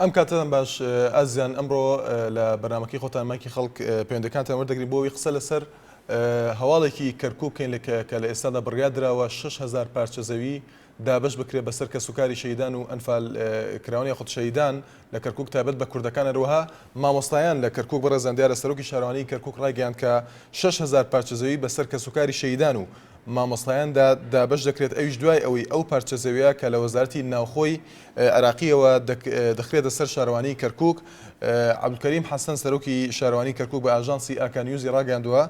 ئەم کاتەتان باش ئازیزان، ئەمڕۆ لە بەرنامەکەی خۆتان مایکی خەڵک پەیوەندیەکانتان وەردەگرین بۆ ئەوەی قسە لەسەر هەواڵێکی کەرکوک بکەین کە لە ئێستادا بڕیار دراوە شەش هەزار پارچە زەوی دابەش بکرێت بەسەر کەسوکاری شەهیدان و ئەنفال کراوان یاخود شەهیدان لە کەرکوک تایبەت بە کوردەکان هەروەها مامۆستایان لە کەرکوک بەڕێزان دیارە سەرۆکی شارەوانی کەرکوک ڕایگەیاند کە شەش هەزار پارچە زەوی بەسەر کەسوکاری شەهیدان و مامۆستایاندا دابەش دەکرێت ئەویش دوای ئەوەی ئەو پارچە زەویە کە لە وەزارەتی ناوخۆی عێراقییەوە دەخرێتە سەر شارەوانیی کەرکووک. عەبدولکەریم حەسەن، سەرۆکی شارەوانیی کەرکووک بە ئاژانسی ئاکا نیوزی راگەیاندووە،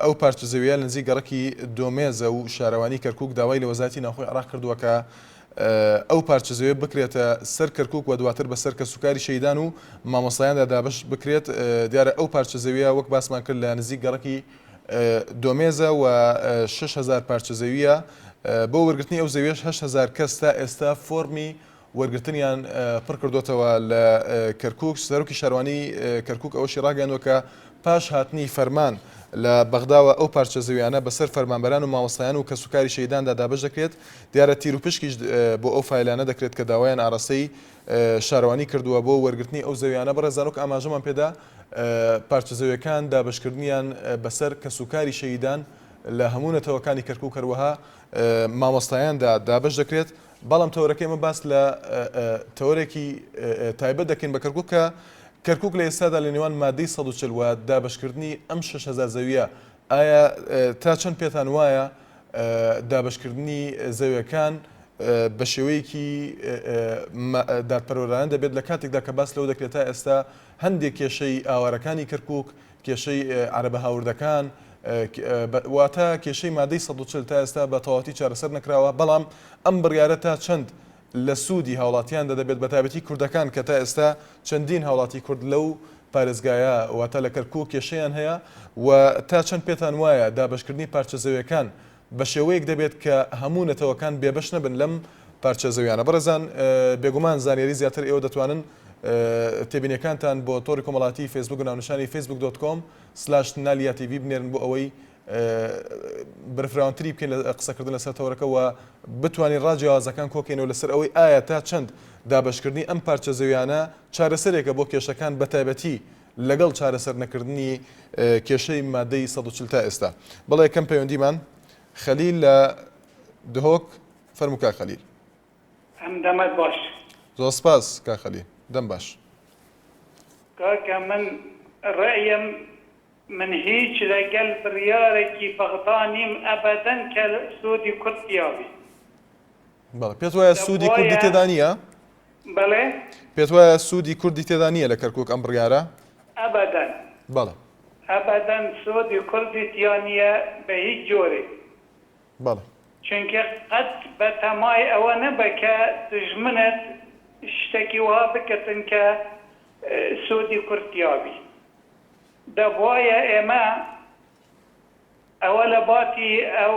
ئەو پارچە زەوییە نزیک گەڕەکی دۆمێزە و شارەوانیی کەرکووک داوای لە وەزارەتی ناوخۆی عێراق کردووە کە ئەو پارچە زەوییە بکرێتە سەر کەرکووک و دواتر بەسەر کەسوکاری شەهیدان و مامۆستایاندا دابەش بکرێت، دیارە ئەو پارچە زەوییە وەک باسمان کرد لە نزیک گەڕەکی دۆمێزە و شەش هەزار پارچە زەوییە، بۆ وەرگرتنی ئەو زەوییەش هەشت هەزار کەس تا ئێستا فۆڕمی وەرگرتنیان پڕکردۆتەوە لە کەرکوک، سەرۆکی شارەوانی کەرکوک ئەوەشی راگەیاندوە کە پاش هاتنی فەرمان لە بەغداوە ئەو پارچە زەوییانە بەسەر فەرمانبەران و مامۆستایان و کەسوکاری شەهیداندا دابەش دەکرێت، دیارە تیروپشکیش بۆ ئەو فایلانە دەکرێت کە داوایان ئاراستەی شارەوانی کردوە بۆ وەرگرتنی ئەو زەوییانە، بەڕێزان وەک ئاماژەمان پێدا، پارچە زەویەکان دابەشکردنیان بەسەر کەسوکاری شەهیدان لە هەموو نەتەوەکانی کەرکوک هەروەها مامۆستایاندا دابەش دەکرێت، بەڵام تەوەرەکەی ئەمە باس لە تەوەرێکی تایبەت دەکەین بە کەرکوک کە کەرکوک لە ئێستادا لە نێوان مادەی سەد و چل و دابەشکردنی ئەم شەش هەزار زەویە ئایا تا چەند پێتان وایە دابەشکردنی زەویەکان بە شێوەیەکی دادپەروەرانە دەبێت لە کاتێکدا کە باس لەوە دەکرێت تا ئێستا هەندێک کێشەی ئاوارەکانی کەرکوک، کێشەی عەرەبە هاوردەکان، واتە کێشەی مادەی سەد و چل تا ئێستا بە تەواوەتی چارەسەر نەکراوە، بەڵام ئەم بڕیارە تا چەند لە سوودی هاوڵاتیاندا دەبێت بەتایبەتی کوردەکان کە تا ئێستا چەندین هاوڵاتی کورد لەو پارێزگایە واتە لە کەرکوک کێشەیان هەیە و تا چەند پێتان وایە دابەشکردنی پارچە زەوێکان بە شێوەیەک دەبێت کە هەموو نەتەوەکان بێبەش نەبن لەم پارچە زەویانە. بەڕێزان بێگومان زانیاری زیاتر ئێوە دەتوانن تێبینیەکانتان بۆ تۆڕی کۆمەڵاتی فەیسبووک ناونیشانی فەیسبووک دۆت کۆم سلاش نالیا تیڤی بنێرن بۆ ئەوەی بەرفراوانتری بکەین لە قسەکردن لەسەر تەوەرەکە و بتوانین ڕا جیاوازەکان کۆکەینەوە لەسەر ئەوەی ئایا تا چەند دابەشکردنی ئەم پارچە زەویانە چارەسەرێکە بۆ کێشەکان بەتایبەتی لەگەڵ چارەسەر نەکردنی کێشەی مادەی سەد و چل تا ئێستا بەڵێ کەم پەیوەندیمان خەلیل لە دهۆک فەرموو کاک خەلیل. ئەم دەمت باش. زۆر سپاس کاک خەلیل دەم باش. کاکە من ڕەئیم من هیچ لەگەل بریارەکی بەغدا نیم ئەبەدەن کە سۆدی کورد تیابی. بەڵێ پێت وایە سوودی کوردی تێدا نییە؟ بەڵێ پێت وایە سوودی کوردی تێدا نییە لە کەرکک ئەم بڕیارە؟ ئەبەدەن بەڵێ ئەبەدەن سوودی کوردی تیا نییە بە هیچ جۆرێک بەڵێ. چونکە قەت بە تەمای ئەوە نەبە کە دوژمنت شتەکی وەها بکردن کە سوودی کورد تیا بی. دەبوایە ئێمە ئەوە لە باتی ئەو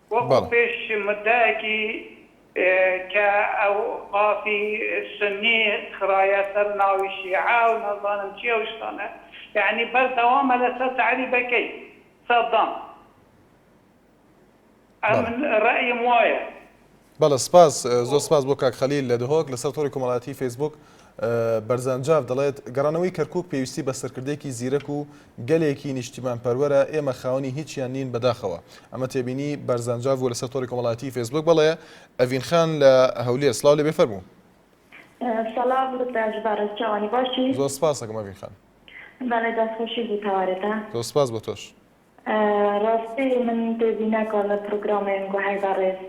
وەکو پێش مددەکی کە ئەو مافی سونی خرایە سەر ناوی شیعە و نازانم چی ئەو شتانە یەعنی بەردەوامە لەسەر تەعریبەکەی سەدام ئەمن ڕەئیم وایە. بەڵێ سپاس زۆر سپاس بۆ کاک خەلیل لە دهۆک لەسەر تۆڕی کۆمەڵایەتی فەیسبووک بەرزانجاف دەڵێت، گەڕانەوەی کەرکوک پێویستی بە سەرکردەیەکی زیرەک و گەلێکی نیشتیمانپەروەرە، ئێمە خاوەنی هیچیان نین بەداخەوە. ئەمە تێبینی بەرزانجاف بووە لەسەر تۆڕی کۆمەڵایەتیی فەیسبووک. بەڵێ ئەڤین خان لە هەولێر، سڵاو لێبێ فەرموو. سەڵام دکتاش بەڕێز چاوانی باشی. زۆر سپاس ئەکەم ئەڤین خان. بەڵێ دەستخۆشی بۆ تەوارەتان. زۆر سپاس بۆ تۆش. ڕاستی من پێزی ناکەوە لە پڕوگرامێن گوهەی بەڕێز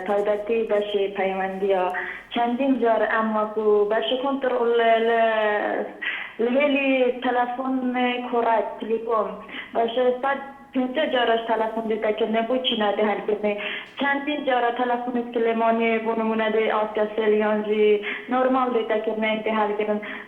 تایبەتی بەشی پەیوەندیە چەندین جار ئەم وەکو بەشی کۆنتڕۆڵ لە لە هێلی تەلەفۆن کۆڕەک تلیکۆم بەشێ سەد پێنجا جارەش تەلەفۆن دێتە کردنێ بۆچی نادێ هەلکردنێ چەندین جارە تەلەفۆنێت کلێمانێ بۆ نمونە دێ ئاسکە سێلیانژی نۆرماڵ دێتە کردنێ ئینگێ هەلگرن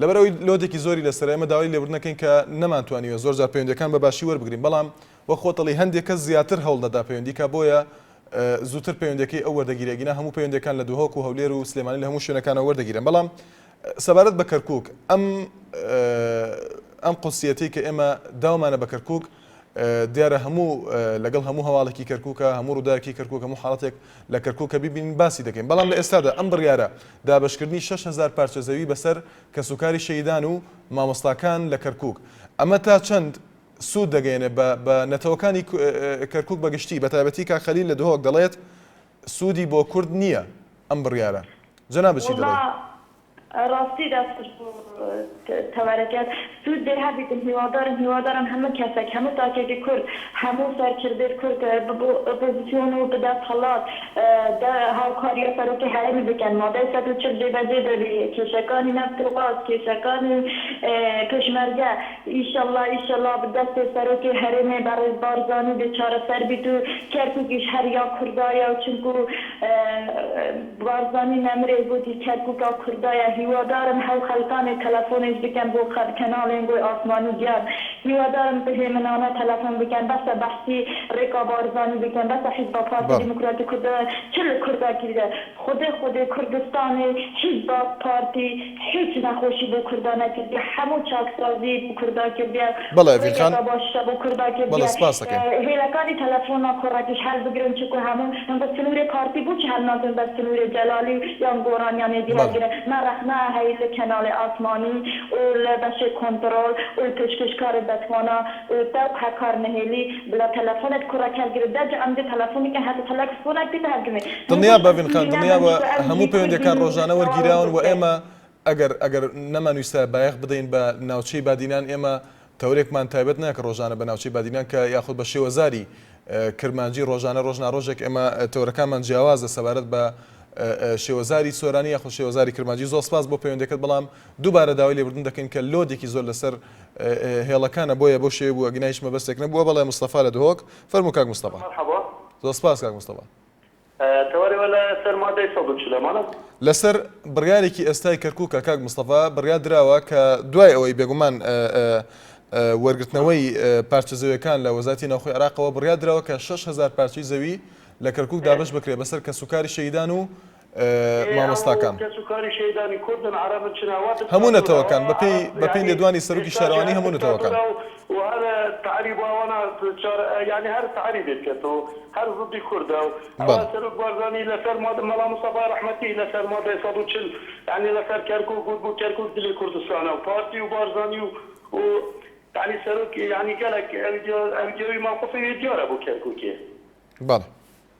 لەبەر ئەوەی لۆدێکی زۆری لەسەرە ئێمە داوای لێبوردن ئەکەین کە نەمانتوانیوە زۆر جار پەیوەندیەکان بە باشی وەربگرین بەڵام وەک خۆت ئەڵێی هەندێک کەس زیاتر هەوڵ دەدا پەیوەندی کا بۆیە زووتر پەیوەندەکەی ئەو وەردەگیرێ ئەگینا هەموو پەیوەندەکان لە دهۆک و هەولێر و سلێمانی لە هەموو شوێنەکانەوە وەردەگیرێن بەڵام سەبارەت بە کەرکک ئەم ئەم قسیەتی کە ئێمە داومانە بە کەرکک دیارە هەموو لەگەڵ هەموو هەواڵێکی کەرکوکە هەموو ڕووداوێکی کەرکوک هەموو حاڵەتێک لە کەرکوک کە بیبینین باسی دەکەین بەڵام لە ئێستادا ئەم بڕیارە دابەشکردنی شەش هەزار پارچە زەوی بەسەر کەسوکاری شەهیدان و مامۆستاکان لە کەرکوک ئەمە تا چەند سوود دەگەیەنێ بە بە نەتەوەکانی کەرکوک بە گشتی بە تایبەتی کاک خەلیل لە دهۆک دەڵێت سوودی بۆ کورد نییە ئەم بڕیارە جەنابت چی دەڵێی؟ ڕاستی دەست خوش بۆ تەوارەکەت سود دەر هەبیتن هیوادارم هیوادارم هەموو کەسەک هەموو تاکێکی کورد هەموو سەرکردەی کورد ببو ئۆپۆزسیۆن و بدەست هەڵات دە هاوکاریا سەرۆکی هەرێمی بکەن مادەی سەد و چل جێبەجێ دەبی کێشەکانی نەفت و غاز کێشەکانی پێشمەرگە ئیشەڵا ئیشەڵا دەستی سەرۆکی هەرێمی بەڕێز بارزانی بێ چارەسەر بیت و کەرکوکیش هەر یا کوردایە و چونکو بارزانی نەمرێ گۆتی کەرکوکا کوردایە هیوادارم هەو خەلکانێ تەلەفۆنێش بکەن بۆ خەر کەناڵێن گۆی ئاسمانی گیان هیوادارم بهێمنانە تەلەفۆن بکەن بەسە بەحسی رێکا بارزانی بکەن بەسە حیزبا پارتی بەڵێ. دیموکراتی کوردایە چ لە کوردا کردە خودێ خودێ کوردستانێ حیزبا پارتی هیچ نەخۆشی بۆ کوردا نەکردیە هەموو چاکسازی بۆ کوردا کردیە بەڵێ ئەڤین خان ڕێگەدا باشیشە بۆ کوردا بەڵێ کردیە سپاست ئەکەین. هێلەکانی تەلەفۆنا کۆڕەکیش هەلبگرن چونکو هەموو هەنگۆ سنورێ پارتی بوچی هەل ناکرن بە سنورێ جەلالی یان گۆڕان یان ئێدی بەڵێ. هەلگرن مە ڕەخنە ئەهەی لە کەناڵێ ئاسمانی و لە بەشێ کۆنتڕۆڵ و لە پێشکێشکارێ بەتوانا و دەوقە کارنەهێلی بلە تەلەفۆنت کوڕە کەر گرت دە جعم دە تەلەفۆنی کە هاتە تەلەکس فۆنە کە تە هەرگمێ من دڵنیا گوشت بە ڤینخان ئەستوری دڵنیا نامە بە نیشتە ئەرز هەموو بی کورد پەیوەندیەکان بینی ڕۆژانە تەواو ئەرز وەرگیراون و بکرێ ئێمە ئەگەر ئەگەر نەمانویستایە بایەخ بدەین بە ناوچەی بادینان ئێمە تەورێکمان تایبەت نە کە ڕۆژانە بە ناوچەی بادینان کە یاخود بە شێوەزاری کرمانجی ڕۆژانە ڕۆژ ناڕۆژێک ئێمە تەورەکانمان جیاوازە سەبارەت بە شێوەزاری سۆرانی یاخود شێوەزاری کرمانجی زۆر سپاس بۆ پەیوەندەکەت بەڵام دووبارە داوای لێبوردن دەکەین کە لۆدێکی زۆر لەسەر هێڵەکانە بۆیە بەو شێوەی بووە گنا هیچ مەبەستێک نەبووە بەڵێ مستەفا لە دهۆک فەرموو کاک مستەفا. مەرحەبا. زۆر سپاس کاک مستەفا. تەوەر ئێوە لە سەر مادەی سەد و چل ئەمانە؟ لەسەر بڕیارێکی ئێستای کەرکووکە کاک مستەفا بڕیار دراوە کە دوای ئەوەی بێگومان وەرگرتنەوەی پارچە زەویەکان لە وەزاتی ناوخۆی عراقەوە بڕیار دراوە کە شەش هەزار پارچەی زەوی لە کەرکووک دابەش بکرێ بەسەر کەسوکاری شەهیدان و مامۆستاکان. هەموو نەتەوەکان، بەپێی بەپێی لێدوانی سەرۆکی شارەوانی هەموو نەتەوەکان. بەڵێ.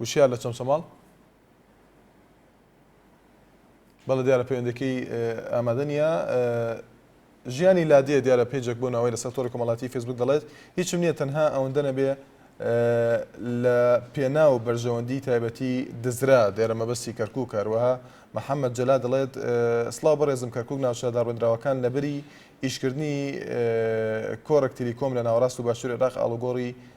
وشیار لە چەمچەماڵ. بەڵێ دیارە پەیوەندەکەی ئامادە نییە ژیانی لادێ دیارە پێجێک بۆ ناوەی لەسەر تۆری کۆمەڵاتی فێسبوک دەڵێت هیچم نییە تەنها ئەوەندە نەبێ لە پێنا و بەرژەوەندی تایبەتی دزرا دێرە مەبەستی کەرکک کاروەها محەممەد جەلا دەڵێت سلااو بەڕێزم کەرکک ناوچە داڕێنراوەکان لەبری ئیشکردنی کۆرەکتری کۆم لە ناوەڕاست و باشوور عراق ئاڵوگۆڕی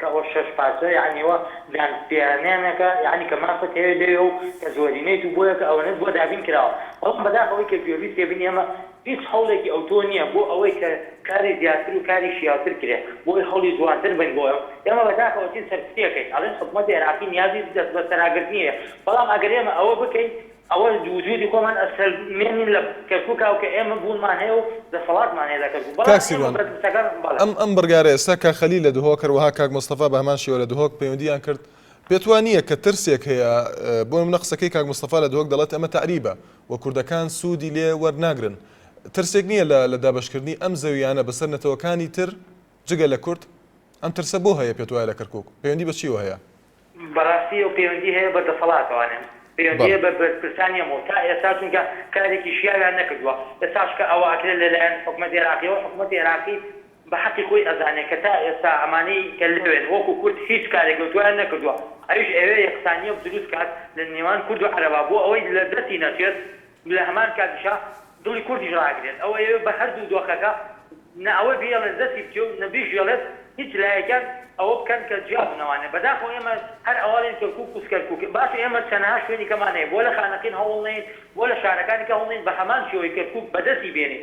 کە ئەوە شەش پارچە یەعنی ئەوە دان پیانانەکە یەعنی کە مافت هەیە لێێ و کە زۆرینەیت و بۆیە کە ئەوەنەت بۆ دابین کراوە بەڵام بەداخەوەی کە گوێبیستی بینی ئەمە هیچ هەوڵێکی ئەوتۆ نییە بۆ ئەوەی کە کاری زیاتر و کاری شیاوتر کرێ بۆی هەوڵی جوانتر بن بۆ ئێمە ئێمە بەداخەوەچین سەرکوتیەکەین ئەڵێن حکومەتی عێراقی نیازی دەست بەسەراگرتنی هەیە بەڵام ئەگەر ئێمە ئەوە بکەین ئەوەش وجودی خۆمان ئەسەل مێنین لە کەرکوکا و کە ئێمە بوونمان هەیە و دەسەڵاتمان هەیە لە کەرکوک بەڵام کاک ئێمە سیروان بە دستەکان بەڵێ. ئەم ئەم بڕگارە ئێستا کاک خەلیل لە دهۆک هەروەها کاک مستەفا بە هەمان شێوە لە دهۆک پەیوەندییان کرد پێت وا نییە کە ترسێک هەیە بۆ نمونە قسەکەی کاک مستەفا لە دهۆک دەڵێت ئەمە تەعریبە و کوردەکان سوودی لێ وەرناگرن ترسێک نییە لە لە دابەشکردنی ئەم زەوییانە بەسەر نەتەوەکانی تر جگە لە کورد؟ ئەم ترسە بۆ هەیە پێت وایە لە کەرکوک؟ پەیوەندی بە چییەوە هەیە؟ بەڕاستی ئەو پەیوەندی هەیە بە دەسەڵاتەوە نێم پەیوەندی هەیە بە بەرپرسان نیە مۆ تا ئێستا چونکە کارێکی شیاویان نەکردووە ئێستاش کە ئەوە ئەکرێت لە لایەن حکومەت ئێراقیەوە حکومەت ئێراقی بە حەقی خۆی ئەزانێت کە تا ئێستا ئەمانەی کە لەوێن وەکو کورد هیچ کارێک لەو دوایان نەکردووە ئەویش ئەوێ یەکسانیە دروست کات لە نێوان کورد و عەرەبا بۆ ئەوەی لە دەستی نەچێت لە هەمان کاتیشا دڵی کوردیش ڕاگرێت، ئەو ئەیەوێت بە هەردوو دۆخەکە نە ئەوەی بیەڵێت دەستی بچێ و نە بیژیەڵێت هیچ لایەکیان ئەوە بکەن کە جیا بن ئەوانێ بەداخەوە ئێمە هەر ئەوانێن کەرکوک و سکەرکوک باشە ئێمە چەنەها شوێنی کەمان هەیە بۆ لە خانەقین هەوڵ نەین بۆ لە شارەکانی کە هەوڵ نەین بە هەمان شێوەی کەرکوک بەدەستی بێنین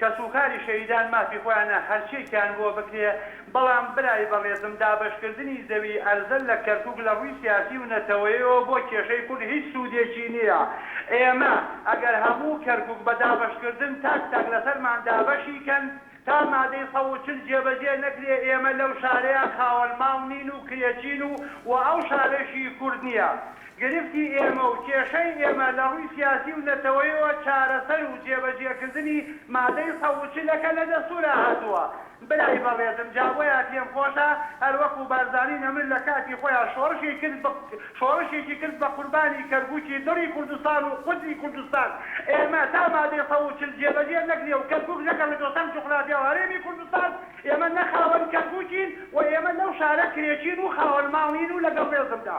کەسوکاری شەهیدان مافی خۆیانە هەرچیەکیان بۆ بکرێ، بەڵام برای بەڕێزم دابەشکردنی زەوی ئەرزە لە کەرکوک لە ڕووی سیاسی و نەتەوەیەوە بۆ کێشەی کورد هیچ سوودێکی نیە، ئێمە ئەگەر هەموو کەرکوک بە دابەشکردن تاک تاک لەسەرمان دابەشی کەن تا مادەی سەد و چل جێبەجێ نەکرێ ئێمە لەو شارەیا خاوەن ماڵ نین و کرێچین و وە ئەو شارەشی کورد نیە. گرفتی ئێمە و کێشەی ئێمە لە ڕووی سیاسی و نەتەوەیەوە چارەسەر و جێبەجێکردنی مادەی سەد و چل ەکە لە دەستوورا هاتووە برای بەڕێزم جا بۆیە پێم خۆشە هەر وەکو بارزانی نەمر لە کاتی خۆیان شۆڕشی کرد بە شۆڕشێکی کرد بە قوربانی کەرکوکی دڵی کوردستان و قودسی کوردستان ئێمە تا مادەی سەد و چل جێبەجێ نەکرێ و کەرکوک نەگەڕێتەوە سەر جوغرافیا و هەرێمی کوردستان ئێمە نە خاوەن کەرکوکین و ئێمە لەو شارە کرێچین و خاوەن ماڵ نین و لەگەڵ ڕێزمدا.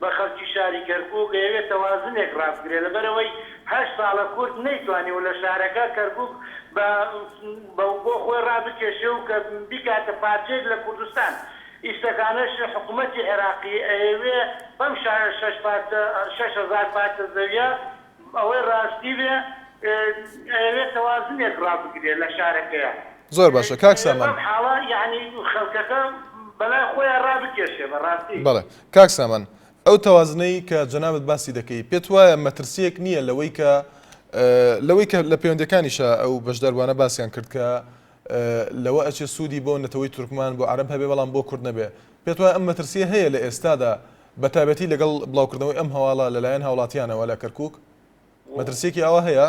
بە خەڵکی شاری کەرکوک ئەیەوێت تەوازنێک ڕابگرێت لەبەرئەوەی هەشت ساڵە کورد نەیتوانیوە لە شارەکە کەرکوک بە بۆ خۆی ڕابکێشێ و کە بیکاتە پارچەیەک لە کوردستان ئیستەکانەش حکومەتی عێراقی ئەیەوێ بەم شەش پارچە شەش هەزار پارچە زەویە ئەوەی ڕاستی بێ ئەیەوێت تەوازنێک ڕابگرێت لە شارەکەیا. زۆر باشە کاک سامان. بەم حاڵە یەعنی خەڵکەکە بەلای خۆیا ڕابکێشێ بەڕاستی. بەڵێ. کاک سامان ئەو تەوازنەی کە جەنابت باسی دەکەی پێت وایە مەترسیەک نییە لەوەی کە لەوەی کە لە پەیوەندەکانیشا ئەو بەشداربوانە باسیان کرد کە لەوە ئەچێ سوودی بۆ نەتەوەی تورکمان بۆ عرب هەبێ بەڵام بۆ کورد نەبێ پێت وایە ئەم مەترسیە هەیە لە ئێستادا بە تابەتی لەگەڵ بڵاوکردنەوەی ئەم هەواڵە لەلایەن هاوڵاتیانەوە لە کەرکک مەترسیەکی ئاوا هەیە؟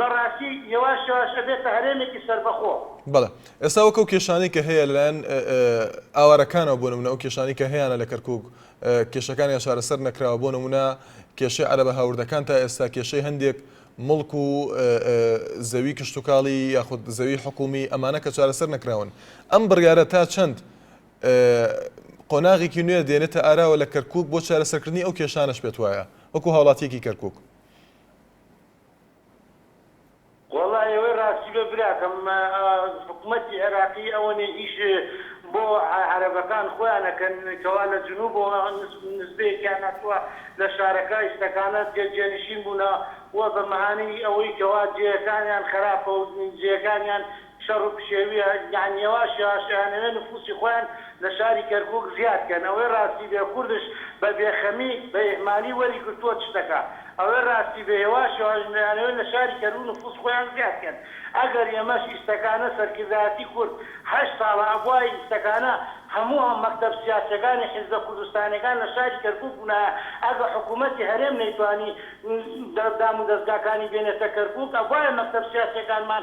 بەڕاستی یەواش یەواش ئەبێتە هەرێمێکی سەربەخۆ. بەڵێ ئێستا وەک ئەو کێشانەی کە هەیە لەلایەن ئاوارەکانەوە بۆ نمونە ئەو کێشانەی کە هەیانە لە کەرکوک کێشەکانیان چارەسەر نەکراوە بۆ نمونە کێشەی عەرەبە هاوردەکان تا ئێستا کێشەی هەندێک مڵک و زەوی کشتوکاڵی یاخود زەوی حکومی ئەمانە کە چارەسەر نەکراون ئەم بڕیارە تا چەند قۆناغێکی نوێ دێنێتە ئاراوە لە کەرکک بۆ چارەسەرکردنی ئەو کێشانەش پێت وایە وەکو هاوڵاتیەکی کەرکک وەڵا ئێوەی ڕاستی بێ براکەم حکومەتی عێراقی ئەوەنێ ئیش بۆ عەرەبەکان خۆیان ئەکەن کەوا لە جنوبەوە نسبەیەکیان هاتووە لە شارەکە ئیستەکانە جێ جێنشین بوونە و بە مەهانەی ئەوەی کەوا جێیەکانیان خراپە و جێیەکانیان شەڕ و پشێویە یان یەواش یەواش ئەیانەوێ نفوسی خۆیان لە شاری کەرکوک زیاد کەن ئەوەی ڕاستی بێ کوردش بە بێخەمی بە ئیهمالی وەری گرتوە تشتەکا ئەوەی ڕاستی بێ یەواش یەواش ئەیانەوێ لە شاری کەرکوک نفوس خۆیان زیاد کەن ئەگەر ئێمەش ئیستەکانە سەرکردایەتی کورد هەشت ساڵە ئەبوایە ئیستەکانە هەموو ئەم مەکتەب سیاسیەکانی حیزبە کوردستانیەکان لە شاری کەرکوک بونایە ئەگە حکومەتی هەرێم نەیتوانی دامودەزگاکانی بێنێتە کەرکوک ئەبوایە مەکتەب سیاسیەکانمان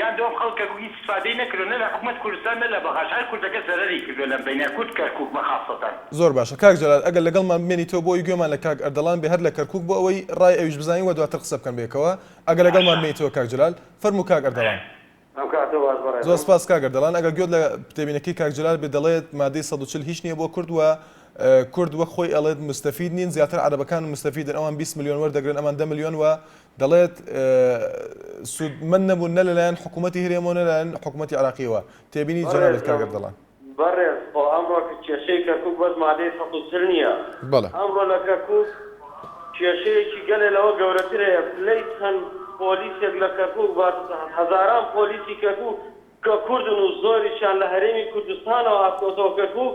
یان دۆم خەڵکە کو هیچ استفادەی نەکردوە نە لە حکومەت کوردستان نە لە بەغاش هەر کوردەکە زەرەری کردوە لەم بەینە کورد کەرکوک بە خاسەتەن. زۆر باشە کاک جەلال ئەگەر لەگەڵمان بمێنیتەوە بۆ ئەوەی گوێمان لە کاک ئەردەڵان بێ هەر لە کەرکوک بۆ ئەوەی ڕای ئەویش بزانین وە دواتر قسە بکەن بەیەکەوە ئەگەر لەگەڵمان باشە. بمێنیتەوە کاک جەلال فەرموو کاک ئەردەڵان. ئەم کاتە باش زۆر بەڕێزم. سپاس کاک ئەردەڵان ئەگەر گوێت لە تێبینەکەی کاک جەلال بێت دەڵێت مادەی سەد و چل هیچ نیە بۆ کورد وە کورد وەک خۆی ئەڵێت مستەفید نین زیاتر عەرەبەکان مستەفیدن ئەوان بیست ملیۆن وەردەگرن ئەمان دە ملیۆن وە دەڵێت، سوودمەند نەبوون نە لەلایەن حکوومەتی هەرێمەوە نە لەلایەن حکوومەتی عێراقییەوە. تێبینی جەنابت کاک ئەردەڵان. بەڕێز خۆ ئەمڕۆ کێشەی کەرکووک بەس مادەی سەد و چل نییە. ئەمڕۆ لە کەرکووک کێشەیەکی گەلێ لەوە گەورەتر هەیە. پلەی چەند پۆلیسێک لە کەرکووک بەس هەزاران پۆلیسی کەرکووک کە کوردن و زۆریشیان لە هەرێمی کوردستانەوە هاتووەتەوە کەرکووک،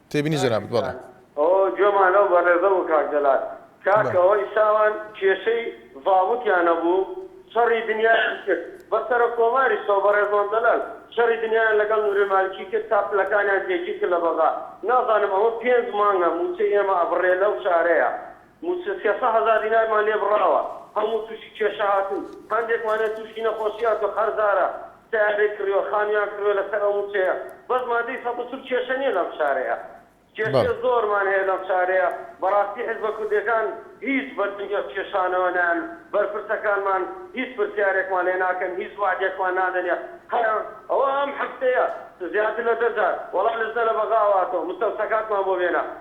تێبینی جەنابت بەڵێ. ئەوە گوێمان لەو بەڕێزە بوو کاک جەلال. کاک ئەوەی ساوان کێشەی زابتیان هەبوو شەڕی دنیایان کرد بە سەرە کۆماریش تۆ بەڕێز مام جەلال شەڕی دنیایان لەگەڵ نوری مالکی کرد تا پلەکانیان جێگیر کرد لە بەغا نازانم ئەوە پێنج مانگە موچەی ئێمە ئەبڕێ لەو شارەیا مووچە سێ سەد هەزار دینارمان لێ بڕاوە، هەموو تووشی کێشە هاتووین، هەندێکمانیان تووشی نەخۆشی هاتووە، قەرزارە، سەیارەی کڕیوە، خانوویان کڕیوە لەسەر ئەو مووچەیە، بەس مادەی سەد و چل کێشە نییە لەم شارەیا، کێشەی زۆرمان هەیە لەم شارەیا، بەڕاستی حیزبە کوردییەکان هیچ بەدەنگی ئەو کێشانەوە نایەن، بەرپرسەکانمان هیچ پرسیارێکمان لێ ناکەن، هیچ وەعدێکمان نادەن، هەر ئەوە ئەم هەفتەیە زیاتر لە دە جار وەڵا لجنە لە بەغاوە هاتووە، مستەوسەکاتمان بۆ بێنە.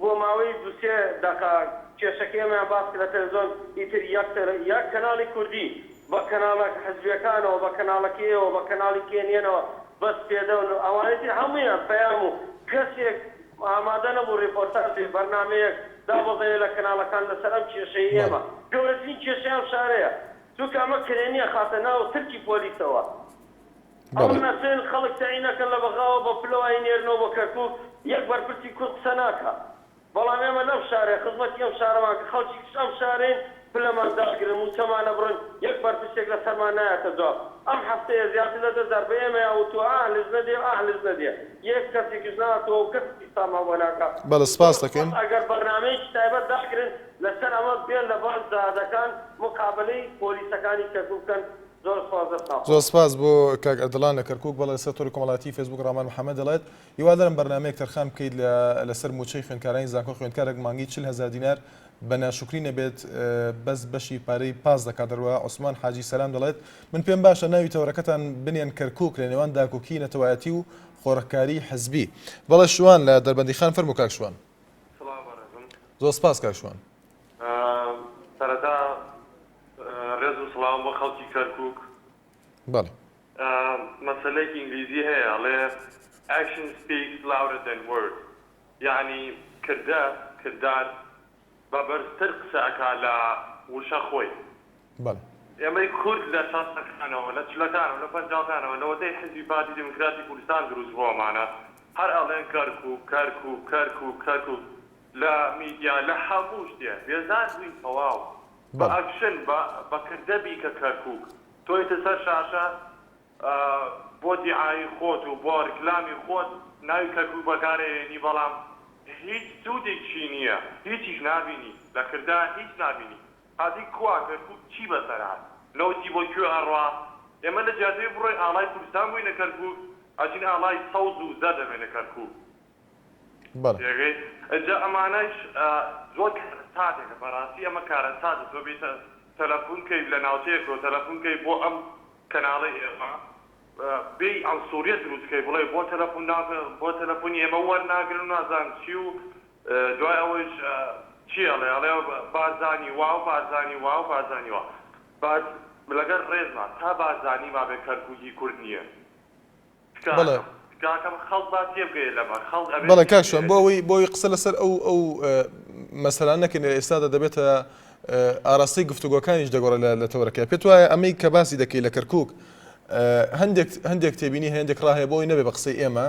بۆ ماوەی دوو سێ دەقە کێشەکەی ئێمەیان باس کرد لە تەلەفزیۆن ئیتر یەک یەک کەناڵی کوردی بە کەناڵە حزبیەکانەوە بە کەناڵەکەی ئێوە بە کەناڵی کێنیەنەوە بەس پێدەون و ئەوانەی تر هەموویان پەیام و کەسێک ئامادە نەبوو ڕێپۆرتاژێ بەرنامەیەک دابەزێنێ لە کەناڵەکان لەسەر ئەم کێشەی بەڵێ. ئێمە گەورەترین کێشەی ئەم شارەیە چونکە ئەمە کرێ نیە خاتە ناو ترکی پۆلیسەوە. ئەو نەچن خەڵک تەعی نەکەن لە بەغاوە بە پلەو ئاینێرنەوە بۆ کەرکوک یەک بەرپرسی کورد قسە ناکا بەڵام ئێمە لەم شارەیە خزمەتی ئەم شارەمان کە خەڵکی کچ ئەم شارەین پلەمان داگرن موچەمان ئەبڕن یەک بەرپرسێک لە سەرمان نایەتە جواب ئەم هەفتەیە زیاتر لە دە جار بە ئێمەیان وتوە ئاه لج نەدێ ئاه لج نەدێ یەک کەسێکیش ناتەوە و کەس قسەمان بۆ ناکا زۆر سوپاس ئەگەر بەرنامەیەکی تایبەت داگرن لەسەر ئەمە بێن لە بان جادەکان مقابەلەی پۆلیسەکانی کەرکوک بکەن زۆر سپاس دەست خۆش. زۆر سپاس بۆ کاک ئەردەڵان لە کەرکوک بەڵێ لەسەر تۆری کۆمەڵایەتی فەیسبوک ڕامان محەمەد دەڵێت هیوادارم بەرنامەیەک تەرخان بکەیت لە لەسەر موچەی خوێندکارانی زانکۆ خوێندکارێک مانگی چل هەزار دینار بە ناشوکری نەبێت بەس بەشی پارەی پاس دەکات دەروە عوسمان حاجی سەلام دەڵێت من پێم باشە ناوی تەوەرەکەتان بنێن کەرکوک لە نێوان داکۆکی نەتەوایەتی و خۆڕکاری حزبی بەڵێ شوان لە دەربەندی خان فەرمو کاک شوان زۆر سپاس کاک شوان سەرەتا ڕێز و سڵاو بۆ خەڵکی کەرکوک. بەڵێ. مەسەلەیەکی ئینگلیزی هەیە ئەڵێ Action speaks louder than words یەعنی کردە، کردار، بە بەرزتر قسە ئەکا لە وشە خۆی. بەڵێ. ئێمەی کورد لە شەستەکانەوە، لە چلەکانەوە، لە پەنجاوکانەوە لەوەتەی حیزبی پارتی دیموکراتی کوردستان دروست بۆوەمانە هەر ئەڵێن کەرکوک، کەرکوک، کەرکوک، کەرکوک لە میدیا لە هەموو شتێ بێزار بووین تەواو بە ئەکشن بە بە کردە بیکە کەرکوک تۆیتە سەر شاشە بۆ دیعایی خۆت و بۆ ریکلامی خۆت ناوی کەرکوک بەکارەیەنی بەڵام هیچ سودیکشی نیە هیچیش نابینی لە کردە هیچ نابینی هاتی کوا کەرکوک چی بەسەر هات نەوتی بۆ کوێ ئەڕوا ئێمە لە جیاتەوەی بڕۆین ئاڵای کوردستان بوینە کەرکوک ئەجین ئاڵای سەوز و زەرد ئەمێنە کەرکوک بەڵێ. تێگەی ئەجا ئەمانەش زۆر کارەساتێکە بەڕاستی ئەمە کارەساتە تۆ بێیت تەلەفون کەی لە ناوچەیەکەوە تەلەفون کەی بۆ ئەم کەناڵەی ئێمە بێی عەنسوریەت دروست کەی بڵێ بۆ تەلەفون ناکە بۆ تەلەفونی ئێمە وەرناگرن و نازانم چی و دوای ئەوەیش چی ئەڵێ ئەڵێ بارزانی وا و بارزانی وا و بارزانی وا بەس لەگەر ڕێزما تا بارزانی مابێ کەرکوکی کورد نیە. بەڵێ. تکاکەم تکاکەم خەڵک با تێبگەیە لەمە خەڵک ئەبێت بەڵێ کاک شوان بۆ تێبگەیەنێ. ئەوەی بۆ ئەوەی قسە لەسەر ئەو ئەو مەسەلانە نەکەین لە ئێستادا دەبێتە ئاراستەی گفتوگۆکانیش دەگۆڕێ لە لە تەوەرەکە پێت وایە ئەمەی کە باسی دەکەی لە کەرکووک هەندێک هەندێک تێبینی هەیە هەندێک ڕا هەیە بۆ ئەوەی نەبێ بە قسەی ئێمە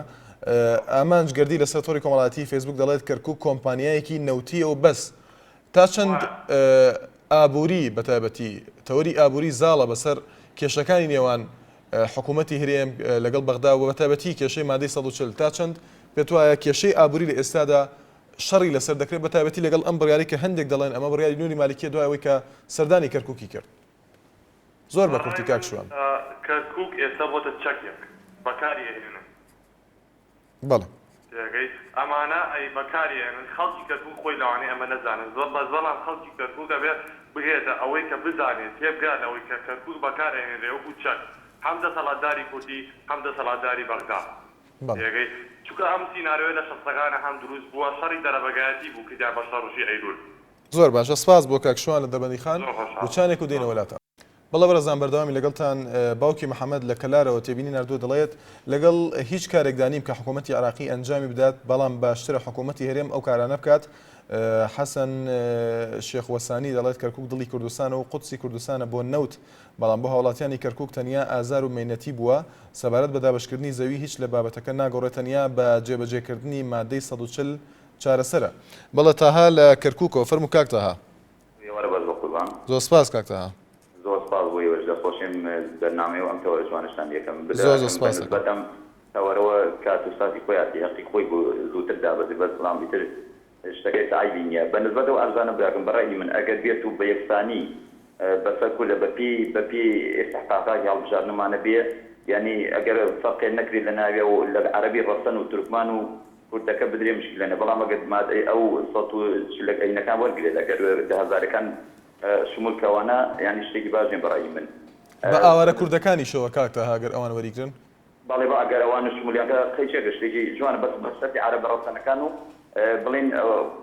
ئامانج گەردی لەسەر تۆڕی کۆمەڵایەتی فەیسبووک دەڵێت کەرکووک کۆمپانیایەکی نەوتییە و بەس تا چەند ئابووری بە تایبەتی تەوەری ئابووری زاڵە بەسەر کێشەکانی نێوان حکوومەتی هەرێم لەگەڵ بەغدا و بەتایبەتی کێشەی مادەی سەد و چل تا چەند پێتوایە کێشەی ئابووری لە ئێستادا شەڕی لەسەر دەکرێت بەتایبەتی لەگەڵ ئەم بڕیارەی کە هەندێک دەڵێن ئەمە بڕیاری نوری مالکیە دوای ئەوەی کە سەردانی کەرکوکی کرد زۆر بە کورتی کاک شوان. کەرکوک ئێستا بۆتە چەکێک بەکاری ئەهێنن. بەڵێ. تێگەیت ئەمانە ئەی بەکاری ئەێنن خەڵکی کەرکوک خۆی لەوانەیە ئەمە نەزانێت زۆر بەس بەڵام خەڵکی کەرکوک ئەبێ بگەێتە ئەوەی کە بزانێت تێبگا لەوەی کە کەرکوک بەکار ئەێنرێ وەکو چەک هەم دەسەڵاتداری کوردی هەم دەسەڵاتداری بەغدا تێگەیت چونکە ئەم سینارۆیە لە شەستەکانە هەم دروست بووە شەڕی دەرەبەگایەتی بوو کردیان بە شەڕژی ئەیلول. زۆر باشە سپاس بۆ کاک شوان لە دەربەندیخان زۆر خۆشحاڵم. وچانێک و دێینەوە لاتان. بەڵێ بەڕێزان بەردەوامین لەگەڵتان، باوکی محەمەد لە کەلارەوە تێبینی ناردووە دەڵێت، لەگەڵ هیچ کارێکدا نیم کە حکوومەتی عێراقی ئەنجامی بدات، بەڵام باشترە حکوومەتی هەرێم ئەو کارانە بکات. حەسەن شێخ وەسانی دەڵێت، کەرکووک دڵی کوردستانە و قودسی کوردستانە بۆ نەوت، بەڵام بۆ هاوڵاتیانی کەرکووک تەنیا ئازار و مەینەتی بووە. سەبارەت بە دابەشکردنی زەوی هیچ لە بابەتەکە ناگۆڕێت تەنیا بە جێبەجێکردنی ماددەی سەد و چل چارەسەرە. بەڵێ تاها لە کەرکووکەوە، فەرموو کاک تاها. بۆیە وەرە بەس بە قوربان. زۆر سپاس کاک تەها. زۆر سپاس بۆ ئێوەش دەستخۆشیم بەرنامەی و ئەم تەوەرە جوانەشتان یەکەم بدا زۆر زۆر ئەکەم سپاست ئەکەم. بەنسبەت ئەم تەوەرەوە کات و ساتی خۆیاتی هەقی خۆی بوو زووتر دابەزی بەس بڵام ئیتر شتەکەش عەیبی نیە بەنسبەت ئەو عەرزانە براکەم بە رەئی من ئەگەر بێت و بە یەکسانی بەسەر کوردە بە پێی بە پێی ئیستحقاقاتی هەڵبژاردنمانە بێ یانی ئەگەر فەرقێ نەکرێ لە ناویا و لە عەرەبی رەسەن و تورکمان و کورتەکە بدرێ مشکلە نیە بەڵام ئەگەر مادەی ئەو سەد و چل ەک ئەینەکان وەرگرێت ئەگەر دە هەزارەکان شمول کە وانە یانی شتێکی باش نیە بە ڕەئی من. بە ئاوارە کوردەکانیشەوە کاک تاها گەر ئەوان وەریگرن. بەڵێ بە ئەگەر ئەوان شمولیان کە قەیچەکە شتێکی جوانە بەس بە سەرتی عەرەبە ڕەسەنەکان و بڵێن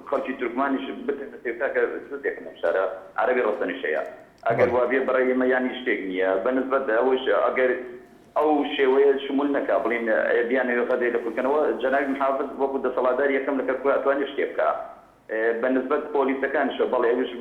خەڵکی تورکمانیش بتەنە سێ کاکە زۆر دێکم لەم شارە عەرەبی ڕەسەنیش هەیە ئەگەر بەڵێ. وابیە بە ڕەئی من یانی شتێک نیە بە نسبەت ئەوەیش ئەگەر ئەو شێوەیە شمول نەکا بڵین ئێ بیانەوێ غەزەی لە کورد کەنەوە جەنابی محافز وەکو دەسەڵاتداری یەکەم لە کەرکوک ئەتوانێ شتێ بکا بە نسبەت پۆلیسەکانیشەوە بەڵێ ئەویش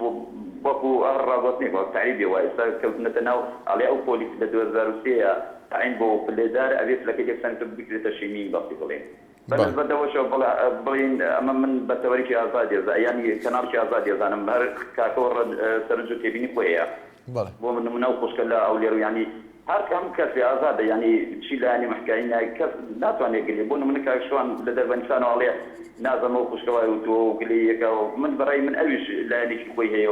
وەکو هەر ڕاگوتنێک وەک تەعریبێ وا ئێستا کەوتنەتە ناو ئەڵێ ئەو پۆلیس لە دوو هەزار و سێ ە تەعین بۆ و پلێدار ئەبێ پلەکەی لێ بسەنێتەوە بکرێتە شینی بەسی بڵین بە نسبەت ئەوەشەوە بڵێ بڵێین ئەمە من بە تەوەرکی ئازادی ئەزا یانی کەناڵکی ئازادی ئەزانم هەر کاکەوە ڕەج سەرنج و تێبینی خۆی هەیە بۆ من نمونە و خوشکە لە ئەو لێرو ینی هەر هەموو کەسی ئازادە ینی چی لایانی مەحکای نای کەس ناتوانێت گلێ بۆ نمونە کاک شوان لە دەربەنیسانەوە ئەڵێ نازەمە و خوشکەوای وتووە و گلەیەکە و من بەڕێی من ئەویش لایەنێکی خۆی هەیە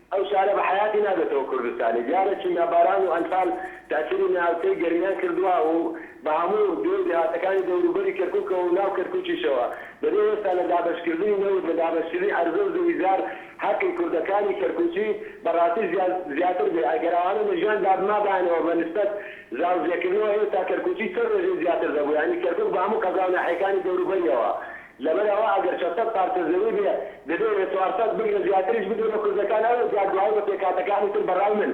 ئەو شارە بە حەیاتی نابێتەوە کوردستانی. دیارە چونگا باران و ئەنفال تاسیری ناوچەی گەرمیان کردوە و بە هەموو دێو و دێهاتەکانی دەوروبەری کەرکوکەوە و ناو کەرکوکیشەوە. دەبێ ئێستا لە دابەشکردنی نەوت، لە دابەشکردنی عەرزە و زەوی زار هەقی کوردەکانی کەرکوکی بە ڕاستی زیاتر بێ. ئەگەر ئەوانە لە ژیان دابمابایەنەوە بە نسبەت زاوزێ کردنەوە ئێستا کەرکوکی چەند ڕێژەی زیاتر دەبوو. یانی کەرکوک بە هەموو قەزا و ناحیەکانی دەوروبەریەوە لەبەر ئەوە ئەگەر چەند سەد پارچە زەوی بێ دەبێ بێ چوار سەد بگرە زیاتریش بدرێ بە کوردەکان ئەوە جا گوایی بە پێکهاتەکانی تر بەڕای من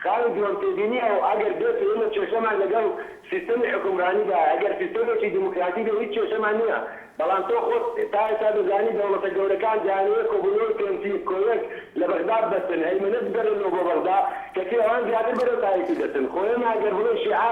خاڵی دووەم تێبینی ئەو ئەگەر بێت و ئێمە کێشەمان لەگەڵ سیستەمی حوکمڕانی دا ئەگەر سیستەمێکی دیموکراتی بێ هیچ کێشەمان نیە بەڵام تۆ خۆت تا ئێستا دەزانی دەوڵەتە گەورەکان دەیانەوێ کۆبونەوەی پێنسی کۆیەک لە بەغدا ببەستن هەیمەنە بگەڕێنەوە بۆ بەغدا کەچی ئەوان زیاتر بەرەو تایفی دەچن خۆ ئێمە ئەگەر بڵێ شیعە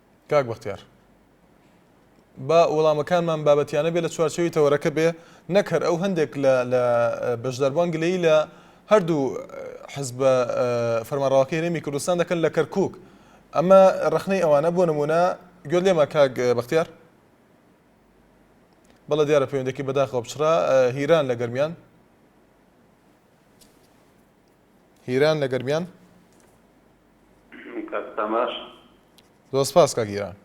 کاک بەختیار با وەڵامەکانمان بابەتیانە بێ لە چوارچەوەی تەوەرەکە بێ نەک هەر ئەو هەندێک لە لە بەشداربووان گلەیی لە هەردوو حزبە فەرمانڕاوەکەی هەرێمی کوردستان دەکەن لە کەرکک ئەمە ڕخنەی ئەوانە بۆ نمونە گوێت لێمە کاک بەختیار بەڵە دیارە پەیوەندێکی بەداخەوە بچرا هیران لە گەرمیان هیران لە گەرمیان کاک سام باش. زۆر سپاس کاک گیان.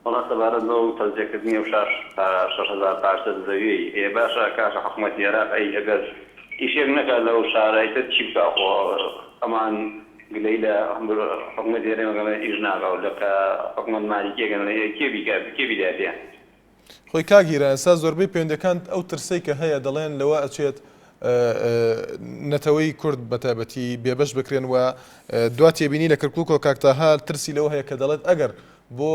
وەڵا سەبارەت بەو تەوزێکردنی ئەو شاش شەش هەزار پارچە زەویەی ئێ باشە کاکە حکومەتی ئێراق ئەی ئەگەر ئیشێک نەکات لەو شارەی تر چی بکا خۆ ئەمان گلەی لە حکومەتی هەرێمەکەن ئیش ناکا و لە کە حکومەت مالیکیەکەن کێ بیکا کێ بیداتیان خۆی کاک هیران ئێستا زۆربەی پەیوەندیەکان ئەو ترسەی کە هەیە دەڵێن لەوە ئەچێت نەتەوەی کورد بەتابەتی بێبەش بکرێن و دوا تێبینی لە کرکک و کاکتاها ترسی لەوە هەیە کە دەڵێت ئەگەر بۆ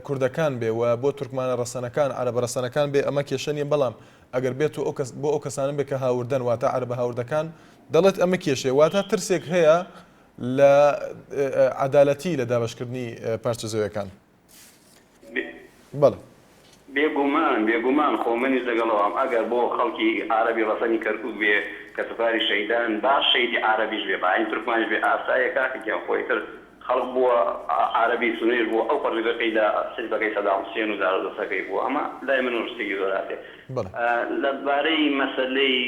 کوردەکان بێ و بۆ تورکمانە ڕەسەنەکان عربە ڕەسەنەکان بێ ئەمە کێشە نیە بەڵام ئەگەر بێت و ئەوکەس بۆ ئەو کەسانن بێ کە هاوردەن واتە عربە هاوردەکان دەڵێت ئەمە کێشێ واتە ترسێک هەیە لە عدالەتی لە دابشکردنی پارچە زەوەکان. بەڵێ. بێگومان بێگومان خۆ منیش لەگەڵ ئەوام ئەگەر بۆ خەڵکی عارەبی ڕەسەنی کەرکوک بێ کە سوپاری شەیدان با شەیدی عارەبیش بێ با هەی تورکمانیش بێ ئاسایە کاکە گیان خۆ ئیتر خەڵک بووە عارەبی سوننەیش بووە ئەو پەڕیوەکەی لە حیزبەکەی سەدام حوسێن و دارودەستەکەی بووە ئەمە لای من ڕشتێکی زۆر هاتێ لە بارەی مەسەلەی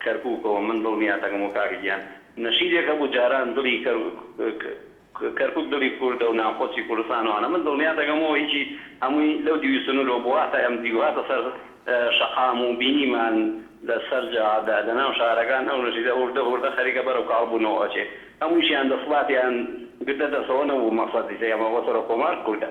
کەرکوکەوە من دڵنیاتەکەم و کاکە گیان نەشیدێک هەبوو جاران دڵی کەرکوک کەرکوک دڵی کوردە و ناوخۆچی کوردستان و ئەوانە من دڵنیا دەگەمەوە هیچی هەمووی لەو دیوی سنورەوە بوو هاتە ئەم دیو هاتە سەر شەقام و بینیمان لە سەر جادا لە ناو شارەکان ئەو نەشیدە هوردە هوردە خەریکە بەرەو کاڵ بوونەوە ئەچێ هەموویشیان دەسڵاتیان گرتە دەستەوە نەبوو مەقسەدی ئێمە بۆ سەرۆک کۆمار کوردە.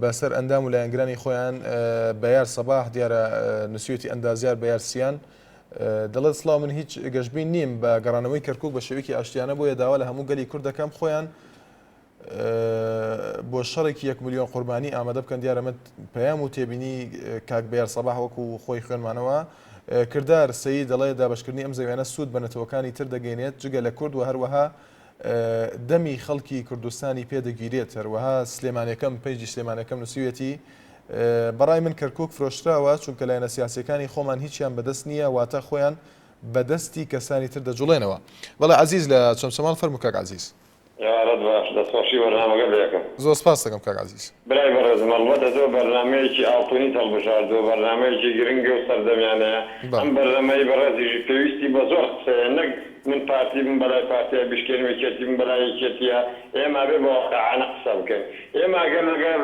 بە سەر ئەندام و لایەنگرانی خۆیان بەیار سەباح دیارە نووسیوێتی ئەندازیار بەیار سیان دەڵێت سڵاو من هیچ گەشتبین نیم بە گەڕانەوەی کەرکک بە شێوکی ئاشتیانە بۆیە داوا لە هەموو گەلی کورد دەکەم خۆیان بۆ شەڕێکی یەک میلیۆن قوربانی ئامادە بکەن دیارەمە پەیام و تێبینی کاک بەیار سەباح وەکو خۆی خوێنمانەوە کردار سەی دەڵێ دابشکردنی ئەم زەویانە سوود بە نەتەوەکانی تر دەگەینێت جگە لە کورد و هەروەها دەمی خەڵکی کوردستانی پێ دەگیرێت، هەروەها سلێمانێکەم پەیجی سلێمانێکەم نووسیویەتی، بەڕای من کەرکووک فرۆشراوە، چونکە لایەنە سیاسییەکانی خۆمان هیچیان بەدەست نییە، واتە خۆیان بە دەستی کەسانی تر دەجوڵێنەوە. بەڵێ عەزیز لە چەمچەماڵ، فەرموو کاک عەزیز. ئێوارەت باش، دەستخۆشی بەرنامەکە دەکەم. زۆر سپاست دەکەم کاک عەزیز. برای بەڕێزم ئەڵبەتە تۆ بەرنامەیەکی ئاڵتونیت هەڵبژاردووە بەرنامەیەکی گرنگە و سەردەمیانەیە ئەم بەرنەمەی بەڕێزیشی پێویستی بە زۆر قسەیە نەک من پارتی بم بەلای پارتیا بیشکێنم یەکێتی بم بەلای یەکێتیا ئێمە ئەبێ بە واقعانە قسە بکەین ئێمە ئەگەر لەگەر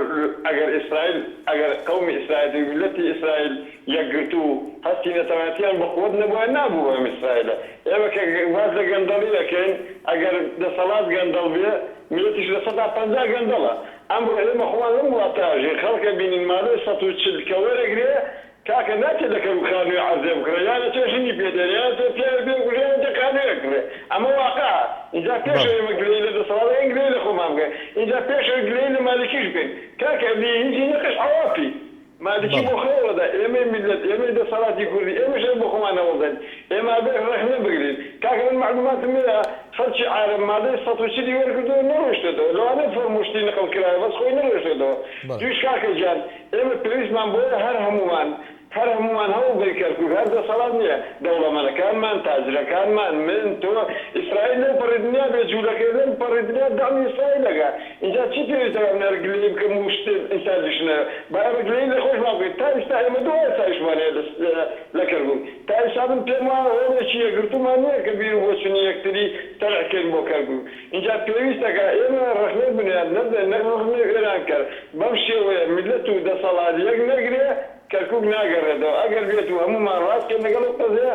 ئەگەر ئیسرائیل ئەگەر قەومی ئیسرائیل و میلەتی ئیسرائیل یەکگرتوو و هەستی نەتەوایەتیان بە قوەت نەبوایە نابوو بە ئەم ئیسرائیلە ئێمە کە باس لە گەندەڵی ئەکەین ئەگەر دەسەڵات گەندەڵ بێ میلەتیش لە سەدا پەنجا گەندەڵە ئەمڕۆ ئێمە خۆمان لەم وڵاتە ژیر خەڵکە بینین مادەی سەد و چل کە وەرەگرێ کاکە ناچێ لە کەرو خانووێ عەرزێ بکڕێ یان ئەچێ ژنی پێ دێنێ یان ئەچێ پیاوێ پێ بکوژێ یان ئەچێ خانووێ ئەکڕێ ئەمە واقعە ئینجا پێشەوە بەڵێ. ئێمە گلەیی لە دەسەڵات بکەین گلەیی لە خۆمان بکەین ئینجا پێشەوە گلەیی لە مالکیش بکەین کاکە ئەبی هیچی نەقیش عەواپی مالکی بۆ خۆی هەوڵدەدات، ئێمەی میللەت، ئێمەی دەسەڵاتی کوردی، ئێمەش هەر بۆ خۆمان هەوڵدەین، ئێمە ئەبێ ڕەخنە بگرین. کاکە من مەعلوماتم هەیە خەڵکی عارەب مادەی سەد و چلی وەرگرتووە نەڕۆیشتۆتەوە، لەوانەیە فۆرم و شتی نقڵ کرایە بەس خۆی نەڕۆیشتۆتەوە دوویش. کاکە گیان ئێمە پێویستمان بەوەیە هەر هەموومان، هەر هەموومان هەوڵدەین کەرکوک هەر دەسەڵات نییە، دەوڵەمەنەکانمان، تاجرەکانمان، من، تۆ، ئیسرائیل لەو پەڕی دنیا بێ جوولەکەیە، لەم پەڕی دنیا دەعمی ئیسرائیل ئەکا. ئینجا چی پێویستە با منارە گلەیی بکەم و شتێ ئیستا دشنە با ئێمە گلەیی لە خۆش با بکەین تا ئیستا ئێمە دو ئاسایشمان هەیە لە لە کەرکوک تا ئیستا من پێم وایە هۆڵێکی یەکگرتومان نیە کە بیرو بۆچونی یەکتری تەرح کەین بۆ کەرکوک ئینجا پێویستە کە ئێمە رەخنەی بنیاد نەدەن نەک رەخنەی وێران کەر بەم شێوەیە میلەت و دەسەڵات یەک نەگرێ کەرکوک ناگەرێتەوە ئەگەر بێتو هەمومان راست کەین لەگەڵ ئەو قەزەیە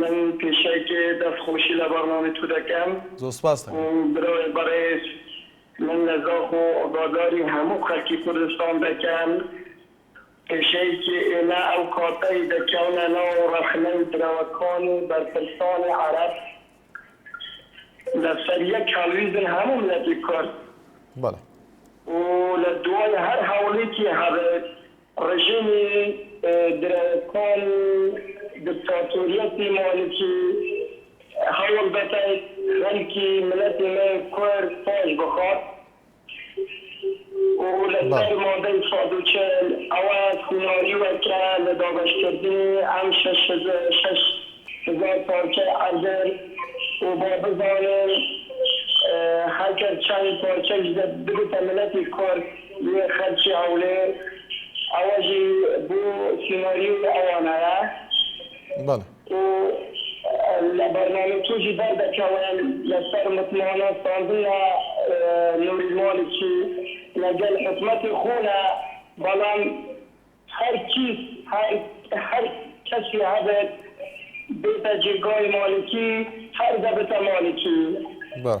من پیشەک دەست خۆشی لە بەرنامەی تو دەکەم. زۆر سپاست دەکەم. برای بەڕێز من لە زاخ و ئاگاداری هەموو خەلکی کوردستان دەکەم پیشەیکی ئیمە ئەو کاتەی دەکەونە ناو رەخنەی برەوەکانی بەرپرسانی عەرەب لە سەر یەک هەلویزن هەموو ملەتی کورد و لە دوای هەر هەولیکی هەبێت ڕژێمی درەوسان و دکتاتۆریەتی مالکی هەوڵ دەدەن خەلکی ملەتی مە کورد پاش بخات و لە سەر مادەی سەد و چل ئەوە سیناریوە کە لە دابەش کردنی ئەم شەش شەش هزار پارچە ئەردن و با بزانن هەگەر چەند پارچەش ببتە ملەتی کورد لێ خەرکی هەولێر ئەوەژی بۆ سیناریۆی ئەوانایە بەڵێ. و لە بەرنامەی توژی بەر دەکەون لەسەر متمانە ستاندن لە نوری مالکی لە گەل حکومەتی خۆنا بەڵام هەر کیس هەر هەر کەسی هەبێت بێتە جێگای مالکی هەر دەبتە مالکی. بەڵێ.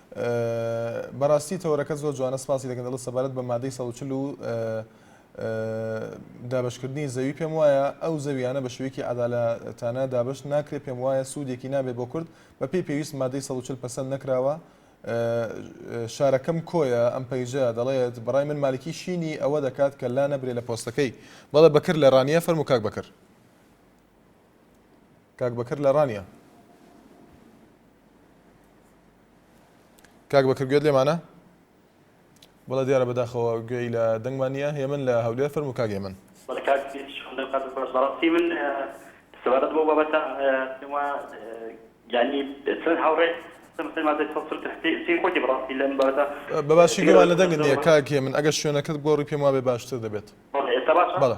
بەراستی تەوەرەکەت زۆر جوانە سپاسی دەکەن دەڵێت سەبارەت بە مادەی سەد و چل و دابشکردنی زەوی پێم وایە ئەو زەویانە بە شوێکی عدالەتانە دابش ناکرێ پێم وایە سوودێکی نابێ بۆ کورد بە پێی پێویست مادەی سەد و چل پەسەند نەکراوە شارەکەم کۆیە ئەم پەیژە دەڵێت بەڕای من مالکی شینی ئەوە دەکات کە لا نەبرێ لە پۆستەکەی بەڵێ بەکر لە ڕانیە فەرمو کاک بەکر کاک بەکر لە ڕانیە کاک بەکر گوێت لێمانە بەڵە دیارە بەداخەوە گوێی لە دەنگمان نیە هێمن لە هەولێر فەرمو کاک هێمن بەڕاستی من سەبارەت بۆ بابەتە پێمە یعنی چەند هاوڕێ خۆتی بڕاستی لەم بەردە بەباشی گوێوان لە دەنگت نیە کاکێ من ئەگەر شوێنەکەت گۆڕی پێم وابێ باشتر دەبێت بەڵێ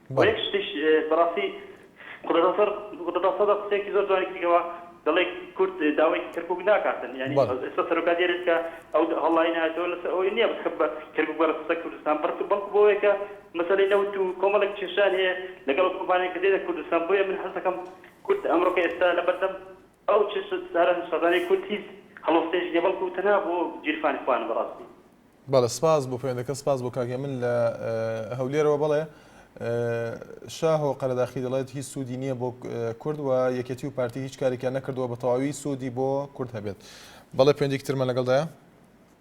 وە یەک شتیش بەڕاستی قدەسەر قدەسەدە قسەیەکی زۆر جوانی کردگەوە دەڵێ کورد داوای کەرکوک ناکاتن یانی ئێستا سەرۆکا دێرێت کە ئەو هەڵڵای نایەتەوە لەسەر ئەوەی نییە بخ بە کەرکوک بەرە سەر کوردستان بڕک بەڵکو بۆیە کە مەسەلەی نەوت و کۆمەڵێک کێشان هەیە لەگەڵ ئەو کۆمپانیای کە دێتە کوردستان بۆیە من حەز دەکەم کورد ئەمڕۆکە ئێستا لەبەردەم ئەو چ سوود دارە نوسازانەی کورد هیچ هەڵوەستەیەکی نیە بەڵکو تەنها بۆ گیرفانی خۆیانە بەڕاستی. بەڵێ سپاس بۆ پەیوەندەکەت سپاس بۆ کاک هێمن لە هەولێرەوە بەڵێ شاهۆ قەرەداخی دەڵێت هیچ سوودی نییە بۆ کورد و یەکێتی و پارتی هیچ کارێکیان نەکردووە بە تەواوی سوودی بۆ کورد هەبێت بەڵێ پەیوەندێکی ترمان لەگەڵدایە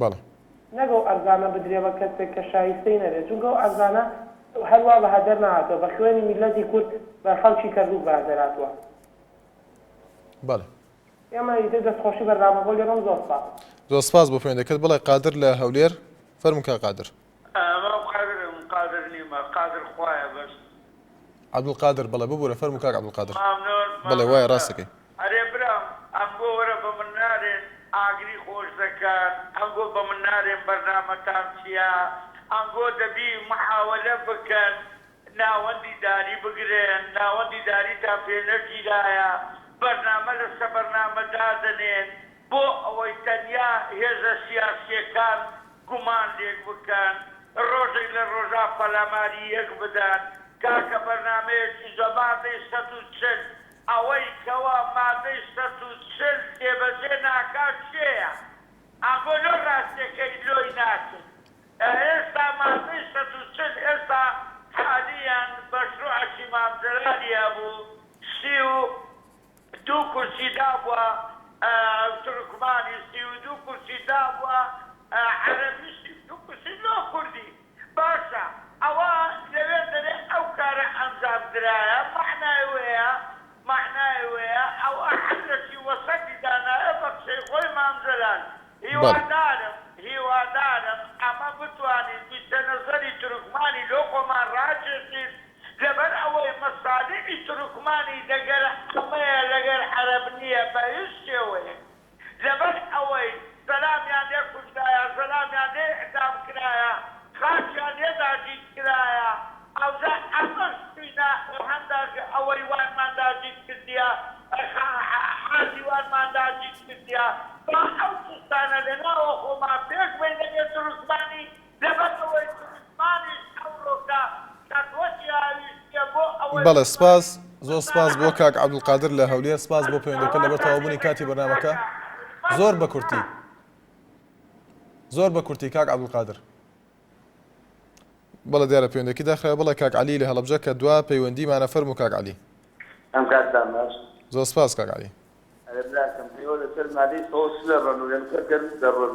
بەڵێ. نەک ئەو عەرزانە بدرێ بە کەسێک کە شایستەی نەبێ، چونکە ئەو عەرزانە هەر وا بەها دەرنەهاتووە، بە خوێنی میللەتی کورد بە خەڵکی کەرکووک بەها دەرهاتووە. بەڵێ. ئێمە ئیتر دەستخۆشی بەرنامەکەو لێکەم زۆر سپاس. زۆر سپاس بۆ پەیوەندەکەت، بڵێ قادر لە هەولێر، فەرموو کاک قادر. مام قادر من قادر نیم قادر خوایە بەس. عبدالقادر بەڵێ ببورە فەرموو کاک عبدالقادر. مامنۆن بەڵێ وایە مامۆستا. ڕاست دەکەی. ئەرێ برام ئەنگۆ وەرە بە من نارێن ئاگری خۆش دەکەن ئەنگۆ بە من نارێن بەرنامەتان چیە ئەنگۆ دەبی محاوەلە بکەن ناوەندی داری بگرن ناوەندی داریتان پێ نەگیرایە بەرنامە لە سەبەرنامە دادەنێن بۆ ئەوەی تەنیا هێزە سیاسییەکان گومان لێک بکەن، ڕۆژێک لە ڕۆژان پەلاماری یەک بدەن، کاکە بەرنامەیەکی جوان، مادەی سەد و چل، ئەوەی کەوا مادەی سەد و چل جێبەجێ ناکات کێیە؟ ئەمبۆ لۆ ڕاستیەکەی لۆی ناچن؟ ئێستا مادەی سەد و چل ئێستا حالیەن مەشروعەکی مام جەلالی هەبوو سی و دوو کورسی دابوە تورکمانی سی و دوو کورسی دابوە عەرەبی سی و دوو کورسی لۆ کوردی باشە ئەوە لەوێ دەرێ ئەو کارە ئەنجام درایە مەعنای وەیە مەعنای وەیە ئەوە هەر لە سی وەسەدی دانایە بە قسەی خۆی مام جەلال هیوادارم هیوادارم ئەمە بتوانین ویسەنەزەری تورکمانی لۆ خۆمان راکێشین لەبەر ئەوەی مەسالیحی تورکمانی دەگەر عامەیە لەگەر عەرەب نیە بە هیچ شێوەیەک لەبەر ئەوەی زەلامیان لێ کوژرایە زەلامیان لێ اعدام کرایە خاکیان لێ داگیر کرایە ئاوجا ئەمەش شوینە هەندە ئەوەی وانمان داگیر کردیە خا عازی وانمان داگیر کردیە با ئەو چشتانە لە ناوە خۆمان پێک بەینە بێ تورکمانی لەبەر ئەوەی کوردستانیش ئەوڕۆ کە سەرۆکی ئاویشتیە بۆ ئەوەی بەڵێ سپاس زۆر سپاس بۆ کاک عبدالقادر لە هەولێر سپاس بۆ پەیوەندەکە لەبەر تەواو بونی کاتی بەرنامەکە زۆر بە کورتی زۆر بە کورتی کاک عبدالقادر بەڵە دیارە پێوەندێکی داخرای بڵێ کاک علی لە هەڵبجە کە دوا پەیوەندی مانە فەرم و کاک علی ئەم کات دام باش زۆر سپاس کاک علی ئەرێ براکەم ئێوە لەسەر مادەی سەوز چ دەڕەن و ئێمە کە گەرم دەڕەن